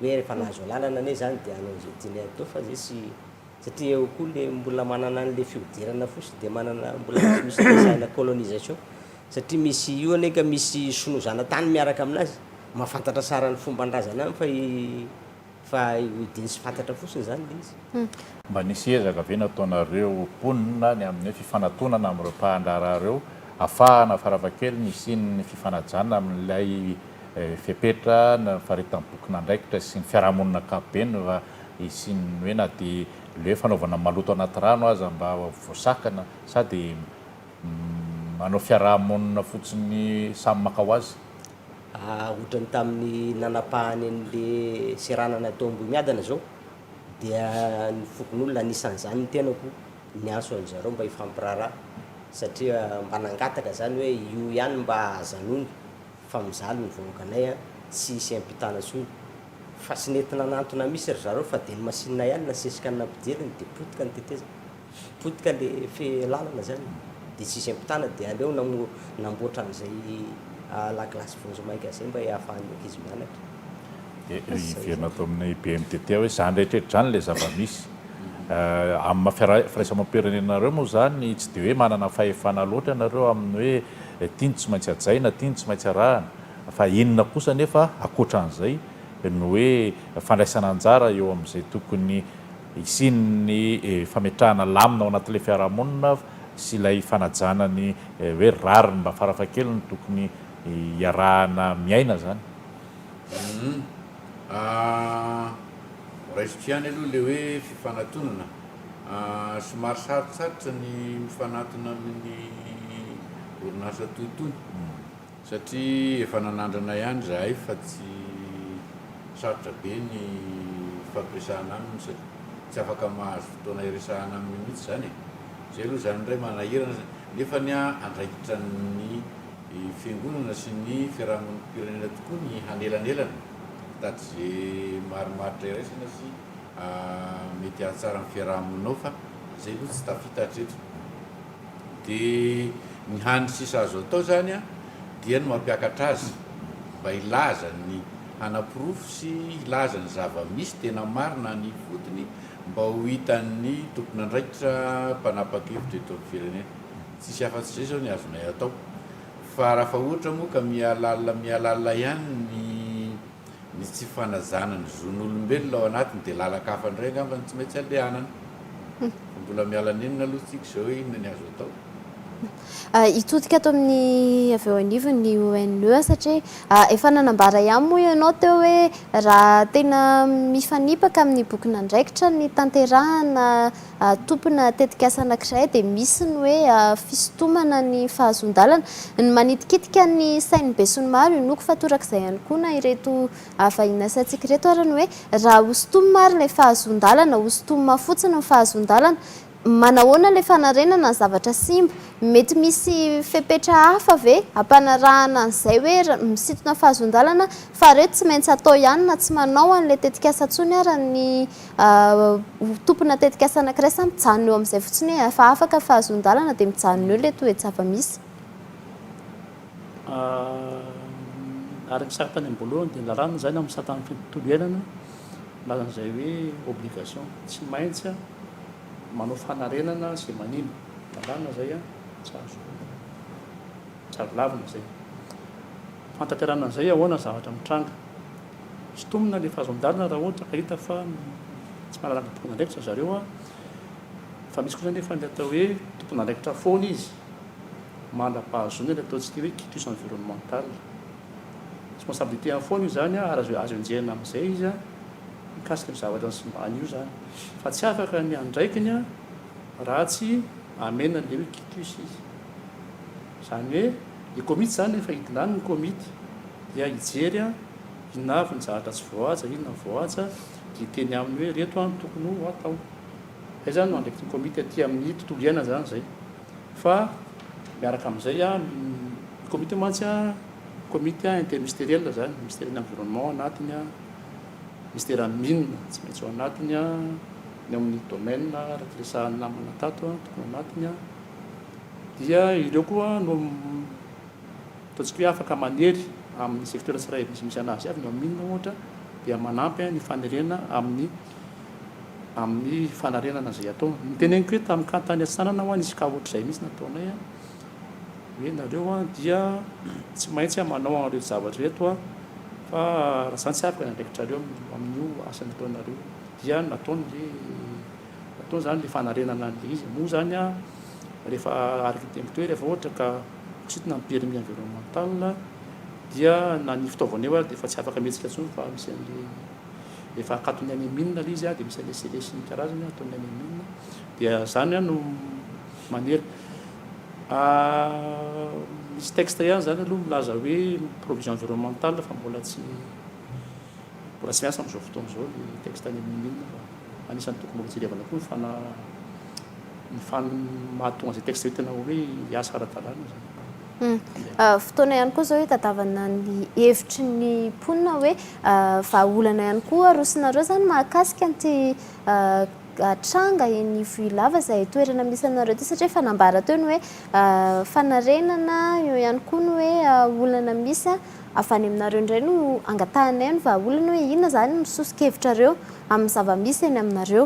hoe refa nahazo alalana anie zany de hanao ze tiany hatao fa zay tsy satria eo koa le mbola manana anle fihodirana fosiny de manana mbola misy misy resahina colonisation satria misy io anie ka misy sinoa zanatany miaraka aminazy mafantatra sara ny fomban-drazana any fa i Fa hidiny sy fantatra fotsiny izany ilay izy. Mba nisy ezaka ve nataonareo mponina ny amin'ny hoe fifanatonana amin'ireo mpahandraharaha ireo afahana farafahakeliny hisian'ny fifanajana amin'ilay fepetra ny faritampokon'andraikitra sy ny fiarahamonina ankapobeny raha hisian'ny hoe na dia ilay hoe fanaovana maloto anaty rano aza mba voasakana sa dia manao fiarahamonina fotsiny samy maka ho azy? Ohatran'ny tamin'ny nanapahany an'ilay seranana tao Ambohimiadana izao, dia ny fokonolona, anisan'izany ny tenako, niantso an-dry zareo mba hifampiraharaha satria mba nangataka izany hoe io ihany mba ajanony fa mijaly ny vahoakanay an, tsy hisy hiampitana intsony. Fa tsy nety nanantona mihitsy ry zareo fa dia ny masinina ihany nasesika ny nampidiriny dia potika ny tetezana. Potika le fe lalana zany de tsisy ampitana de aleo namboatra an'izay la glace vonjimaika zay mba iahafahan'ny ankizy mianatra. De hiverina ato amin'ny BMTT hoe zany rehetra zany ilay zava-misy. Amin'ny maha firaisamoam-pirenena anareo moa izany tsy dia hoe manana fahefana loatra ianareo amin'ny hoe ity no tsy maintsy hajaina, ity no tsy maintsy arahina fa inona kosa anefa ankoatra an'izay no hoe fandraisana anjara eo amin'izay tokony Hisian'ny fametrahana lamina ao anatin'ilay fiarahamonina sy ilay fanajana ny hoe rariny mba farafahakeliny tokony hiarahana miaina izany. Humm ah raisiko ihany aloha ilay hoe fifanatonana ah somary sarotsarotra ny mifanatona amin'ny orinasa toy itony. Satria efa nanandrana ihany izahay fa tsy sarotra be ny hifampiresahana aminy satria tsy afaka mahazo fotoana hiresahana aminy mihitsy izany e! Izay aloha izany indray manahirana izany nefa ny ahy andraikitra ny fiangonana sy ny fiarahamonim-pirenena tokoa ny hanelanelana hitady izay marimaritra iraisana sy mety hahatsara ny fiarahamonina ao fa izay aloha tsy tafita hatreto. Dia ny hany sisa azo atao zany dia ny mampiakatra azy mba hilaza ny hanaporofo sy hilaza ny zava-misy tena marina any ifotony mba ho hitan'ny tompon'andraikitra mpanapakevitra eto amin'ny firenena. Tsisy afa-tsy izay izao ny azonay atao fa raha fa ohatra moa ka mihalalina mihalalina ihany ny. ny tsy fanajana ny zon'olombelona ao anatiny dia lalaka hafa indray angamba no tsy maintsy andehanana. Fa mbola miala nenina aloha tsika izao hoe inona ny azo atao. Hitodika ato amin'ny avy eo anivony ny ONE satria efa nanambara ihany moa ianao teo hoe raha tena mifanipaka amin'ny bokin'andraikitra ny tanterahana tompona tetikasa anankiray dia misy ny hoe fisintomana ny fahazoan-dalana. Ny manitikitika ny sain'ny besinimaro, inoako fa torak'izay ihany koa na ireto vahiny asantsika ireto ary ny hoe raha hosintomina ary ilay fahazoan-dalana, hosintomina fotsiny ny fahazoan-dalana, manahoana ilay fanarenana ny zavatra simba? Mety misy fepetra hafa ve hampanarahana an'izay hoe misintona fahazoan-dalana fa ireto tsy maintsy atao ihany na tsy manao an'ilay tetikasa intsony ary ny Ho tompona tetikasa anankiray sa mijanona eo amin'izay fotsiny hoe efa afaka fa hazoan-dalana dia mijanona eo ilay toe-javamisy? Ary ny sary tany am-boalohany dia ny lalàna izay na misata ny tontolo iainana milaza an'izay hoe obligation tsy maintsy manao fanarenana izay manimba ny lalàna izay an, tsy azo tsy azo lavina izay. Ny fanatanterahana an'izay ahoana ny zavatra mitranga? Sintomina ilay fahazon-dalana raha ohatra ka hita fa tsy manana tompon'andraikitra zareo an! Fa misy kosa anefa ny atao hoe tompon'andraikitra foana izy, mandra-pahazoana ilay ataontsika hoe quitus environnemental. Responsabilité-ny foana io izany an, ary azo azo enjehina amin'izay izy an, mikasika io zavatra nisimbany io izany. Fa tsy afaka ny andraikiny an, raha tsy amena ilay hoe quitus izy. Izany hoe. Ny komity izany efa hidinany ny komity dia hijery inona avy ny zahatra tsy voahaja, inona ny voahaja dia hiteny aminy hoe ireto ny tokony ho atao. Izay izany no andraikitry ny komity aty amin'ny tontolo iainana izany izay. Fa miaraka amin'izay ny komity io mantsy komity intermistériel izany, misteran'ny environnement ao anatiny, misteran'ny mines tsy maintsy ao anatiny, ny amin'ny domaine araka ny resahan'ny namana tato tokony ao anatiny. dia ireo koa no ataontsika hoe afaka manery amin'ny secteur tsirairay misimisy an'azy avy, ny ao mine ohatra dia manampy ny fanerena amin'ny amin'ny fanarenana izay atao. Ny teneniko hoe tamin'ny ka tany Antsinanana ho'a nisy cas ohatr'izay mihitsy nataonay hoe nareo dia tsy maintsy manao an'ireto zavatra ireto fa raha izany tsy afaka ny andraikitrareo amin'io asa nataonareo io, dia nataony ilay Atao izany ilay fanarenana an'ilay izy. Moa izany rehefa architecture rehefa ohatra ka kositana ny permis environnemental dia na ny fitaovana eo ary dia efa tsy afaka mihetsika intsony fa misy an'ilay efa akaton'ny any mine ilay izy dia misy an'ilay scellé sy ny karazany ataon'ny any mine dia izany no manery misy texte ihany izany aloha milaza hoe provision environnemental fa mbola tsy Mbola tsy miasa amin'izao fotoana izao ny texte any amin'ny mine fa anisan'ny tokony mbola jerevana koa ny fana ny fan mahatonga izay texte izay tena hoe hiasa ara-dalàna izany. Fotoana ihany koa izao hitadavana ny hevitry ny mponina hoe vahaolana ihany koa arosinareo izany mahakasika an'ity tranga eny Ivohilava izay toerana misy anareo ity satria efa nambara teo ny hoe fanarenana, eo ihany koa ny hoe olana misy. avy any aminareo indray no angatahanay ny vahaolana hoe inona izany no soso-kevitrareo amin'ny zava-misy eny aminareo.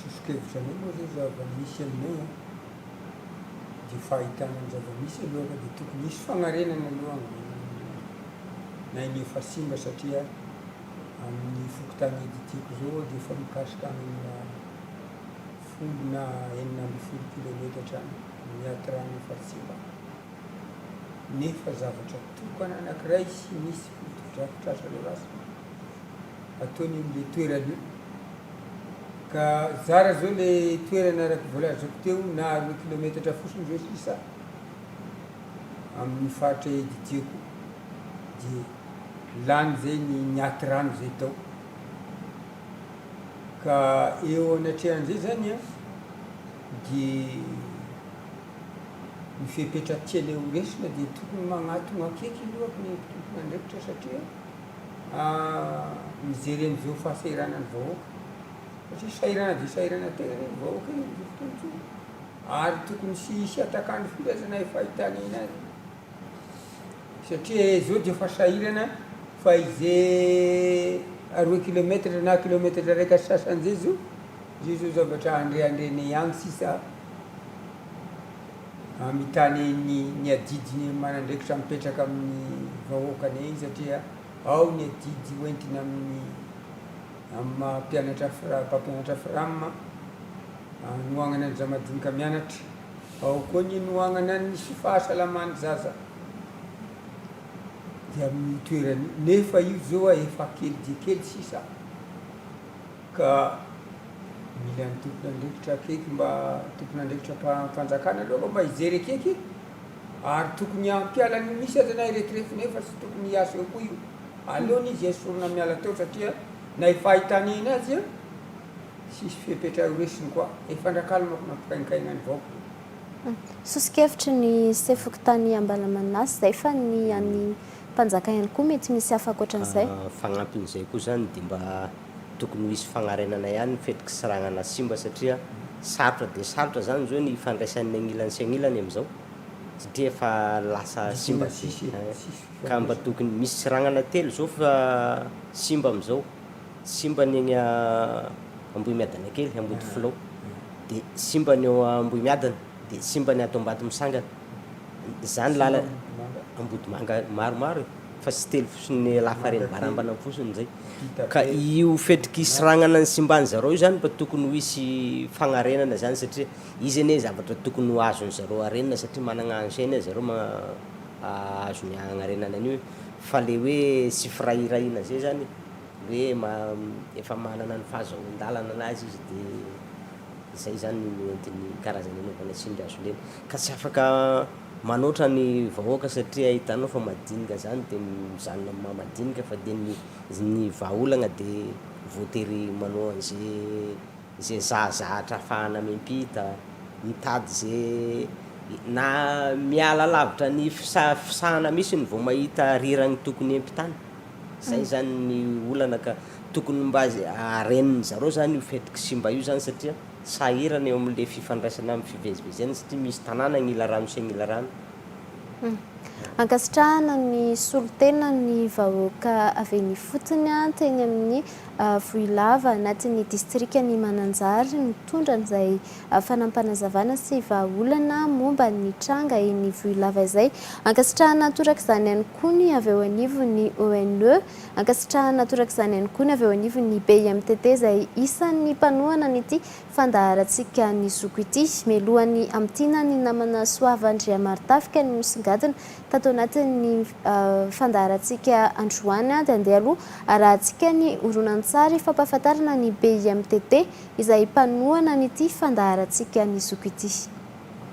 Soso-kevitra anay moa izay zava-misy aminay an, dia fahitana ny zava-misy aloha fa dia tokony hisy fanarenana aloha ny ainy efa simba satria amin'ny fokontany Aiditiako izao dia efa mikasikany amina Vondrona enina ambin'ny folo kilometatra ny Atramin' Faritsivana, nefa zavatra tokana anankiray sy misy fotodrafitrasa norasana ataony eo amin'ilay toerana io. Ka zara izao ilay toerana araka ny voalazako teo na roa kilometatra fotsiny izao sisa amin'ny faritra Editieko dia lany izay ny ny aty rano izay tao. Ka eo anatrehan'izay zany an, dia ny fepetra tianay ho resona dia tokony magnatogna akeky aloha ny tompon'andraikitra satria mijery an'izao fahasahiranan'ny vahoaka, satria sahirana dia sahirana tegna anie ny vahoaka e, ary tokony tsy hisy hatak'andro firy aza na efa hitagnina azy. Satria zao dia efa sahirana fa ize roe kilometatra na kilometatra raika sasany zay zao, zay zao zavatra andreandrena ihany sisa amitany ny ny adidiny manandraikitra mipetraka amin'ny vahoakany eny satria ao ny adidy hoentina amin'ny amin'ny maha mpianatra fram- mpampianatra fram anohanana an'izay madinika mianatra. Ao koa ny hinoanana ny sy fahasalaman'ny zaza dia amin'io toerana io nefa io zao a efa kely dia kely sisa ka mila ny tompon'andraikitra akaiky mba tompon'andraikitra mpanjakana aloha mba hijery akaiky ary tokony hampiala an'io misy aza na iretirefy nefa tsy tokony hiasa eo koa io aleony izy esorina miala teo satria na efa ahitanena azy a Tsisy fepetra ho resiny koa. Efa andrakaliny manko nampikainkaina ny vahoaka. Soso-kevitry ny se fokontany Ambalamanasy zay fa ny an'ny mpanjaka ihany koa mety misy hafa ankoatran'izay. Fagnampin'izay koa zany dia mba tokony ho hisy fagnarenana ihany ny fety kisaragnana simba satria sarotra dia sarotra zany zao ny hifandraisan'ny agnilany sy agnilany amizao satria efa lasa simba be ka mba tokony misy seragnana telo zao fa simba amizao Simba ny eny Ambohimiadana kely, Ambodifilao, dia simba ny eo Ambohimiadana, dia simba ny ato Ambatomisangana. Izany lala, Ambodimanga maromaro e, fa tsy telo fotsiny lafarin'ny barambanany fotsiny izay. Ka io fetriky isragnana ny simban'ny zareo io izany mba tokony ho hisy fagnarenana izany satria izy anie zavatra tokony ho azon'ny zareo arenina satria managna engin ry zareo ahazoany agnarenana an'io e, fa le hoe tsy firahirahina izay izany e. hoe efa manana ny fahazoan-dalana an'azy izy dia izay izany no entiny karazana hanaovana tsindry hazo lena ka tsy afaka manoatra ny vahoaka satria hitanao fa madinika izany dia mizanona amin'ny maha madinika fa dia ny ny vahaolagna dia voatery manao an'izay izay zahazahatra hahafahana miampita, mitady izay na miala lavitra ny fisa- fisahana mihitsy vao mahita rirany tokony hiampitana. Zay zany ny olana ka. Tokony mba haren'ny zareo zany io fetik'i Simba io zany satria sahirana eo amin'le fifandraisana amin'ny fivezivezena satria misy tanàna agn'ila rano sy agn'ila rano. Ankasitrahana ny solontenan'ny vahoaka avy eny ifotony teny amin'ny Vohilava anatin'ny distrikan'i Mananjary nitondra an'izay fanampanazavanaa sy vahaolana momba ny tranga eny Vohilava izay. Ankasitrahana torak'izany ihany koa. koa ny avy eo anivon'ny ONE. Ankasitrahana torak'izany ihany koa ny avy eo anivon'ny BIMTT izay isan'ny mpanohana an'ity fandaharantsika Ny Zoko ity. Mialohan'ny hamintinany ny namana Soava Andriamaritafika no nisongadina tato anatin'ny fandaharantsika androany dia andeha aloha arahantsika ny horonantsary fampahafantarana ny BIMTT izay mpanohana an'ity fandaharantsika Ny Zoko ity.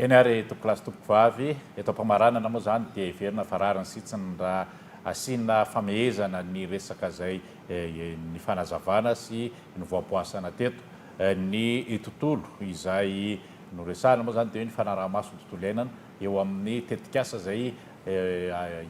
Eny ary tompokolahy sy tompokovavy, eto am-pamaranana moa izany dia heverina fa rariny sitsiny raha asiana famehezana ny resaka izay nifanazavana sy nivoaboasana teto. Ny tontolo izay noresahana moa izany dia hoe ny fanaraha-maso ny tontolo iainana eo amin'ny tetikasa izay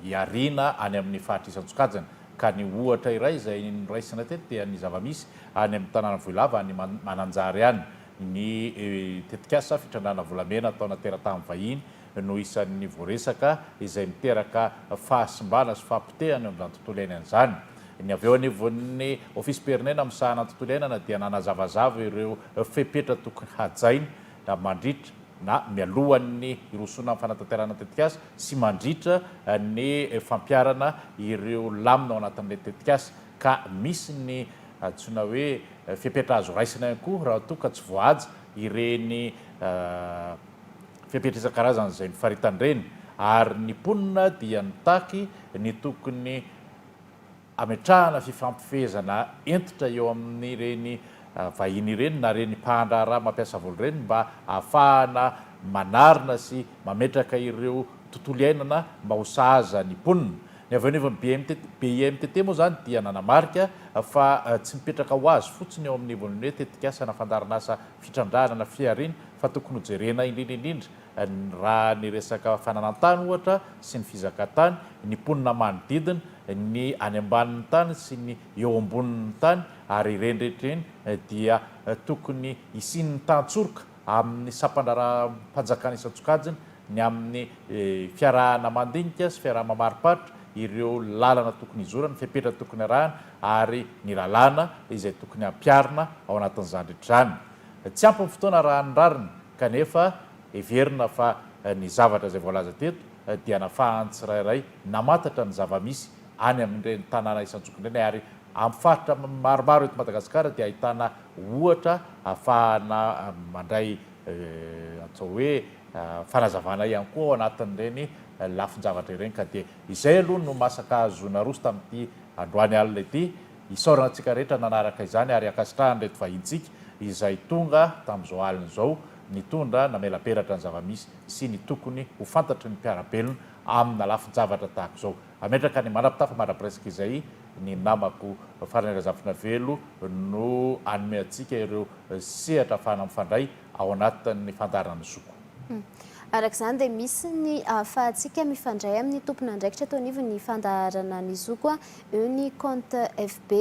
hiariana any amin'ny faritra isan-tsokajiny ka ny ohatra iray izay noraisina teto dia ny zava-misy any amin'ny tanàna Vohilava any Mananjary any Ny tetikasa fitrandrahana volamena ataona teratany vahiny no isan'ny voaresaka izay miteraka fahasimbana sy fahapotehana eo amin'izany tontolo iainana izany. Ny avy eo anivon'ny ofisim-pirenena misahana ny tontolo iainana dia nanazavazava ireo fepetra tokony hajaina mandritra na mialohan'ny hirosoana amin'ny fanatanterahana ny tetikasa sy mandritra ny fampiharana ireo lamina ao anatin'ilay tetikasa ka misy ny antsoina hoe fepetra azo raisina ihany koa raha toa ka tsy voahaja ireny fepetra isan-karazany izay mifaritana ireny ary ny mponina dia mitaky ny tokony hametrahana fifampifehezana hentitra eo amin'ireny vahiny ireny na ireny mpahandraharaha mampiasa volo ireny mba hahafahana manarina sy mametraka ireo tontolo iainana mba ho sahaza ny mponina. Ny avy eo anivon'ny BIMTT moa izany dia nanamarika fa tsy mipetraka ho azy fotsiny eo amin'ny ivon'ny hoe tetikasa na fandaharanasa fitrandrahana na fihariana fa tokony hojerena indrindra indrindra raha ny resaka fananantany ohatra sy ny fizakantany, ny mponina manodidina, ny any ambanin'ny tany sy ny eo ambonin'ny tany ary ireny rehetra ireny dia tokony hisian'ny tantsoroka amin'ny sampandraharaham-panjakana isan-tsokajiny ny amin'ny fiarahana mandinika sy fiarahana mamariparitra ireo lalana tokony hizorana, fepetra tokony arahana ary ny lalàna izay tokony hampiharina ao anatin'izany rehetra izany. Tsy ampy ny fotoana arahan'ny rariny kanefa heverina fa ny zavatra izay voalaza teto dia nafahan'ny tsirairay namantatra ny zava-misy any amin'ireny tanàna isan-tsokiny ireny ary amin'ny faritra maromaro eto Madagasikara dia ahitana ohatra ahafahana mandray atao hoe fanazavana ihany koa ao anatin'ireny lafin-javatra ireny ka dia izay aloha no masaka azo naroso tamin'ity androany alina ity. Isaorana antsika rehetra nanaraka izany ary ankasitrahana ireto vahintsika izay tonga tamin'izao alina izao nitondra namela-peratra ny zava-misy sy ny tokony ho fantatry ny mpiara-belona amina lafin-javatra tahaka izao. Ametraka ny manapitafa mandrapiresaka izay ny namako Farany Razafinavelo no hanome antsika ireo sehatra ahafahana mifandray ao anatin'ny fandaharan'ny zoko. Araka izany dia misy ny ahafahantsika mifandray amin'ny tompon'andraikitra teo anivon'ny fandaharana ny zoko, eo ny compte FB,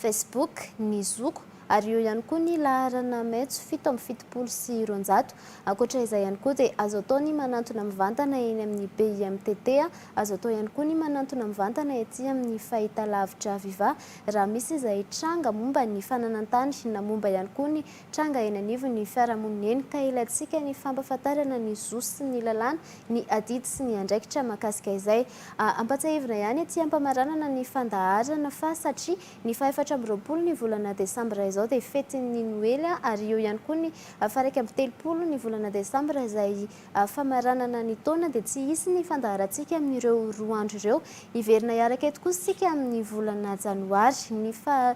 Facebook, ny zoko ary eo ihany koa ny laharana maitso fito amby fitopolo sy roanjato. Ankoatra izay ihany koa dia azo atao ny manantona mivantana eny amin'ny BIMTT, azo atao ihany koa ny manantona mivantana ety amin'ny fahitalavitra Viva raha misy izay tranga momba ny fananantany na momba ihany koa ny Tranga eny anivon'ny fiarahamonina eny ka ilaintsika ny fampahafantarana ny zo sy ny lalàna, ny adidy sy ny andraikitra mahakasika izay. Ampahatsiahivina ihany ety am-pamaranana ny fandaharana fa satria ny fahefatra amby roapolo ny volana desambra izao dia fetin'ny noely ary eo ihany koa ny faharaika amby telopolo ny volana desambra izay famaranana ny taona dia tsy hisy ny fandaharantsika amin'ireo roa andro ireo. Hiverina hiaraka eto kosa isika amin'ny volana janoary. Ny faha.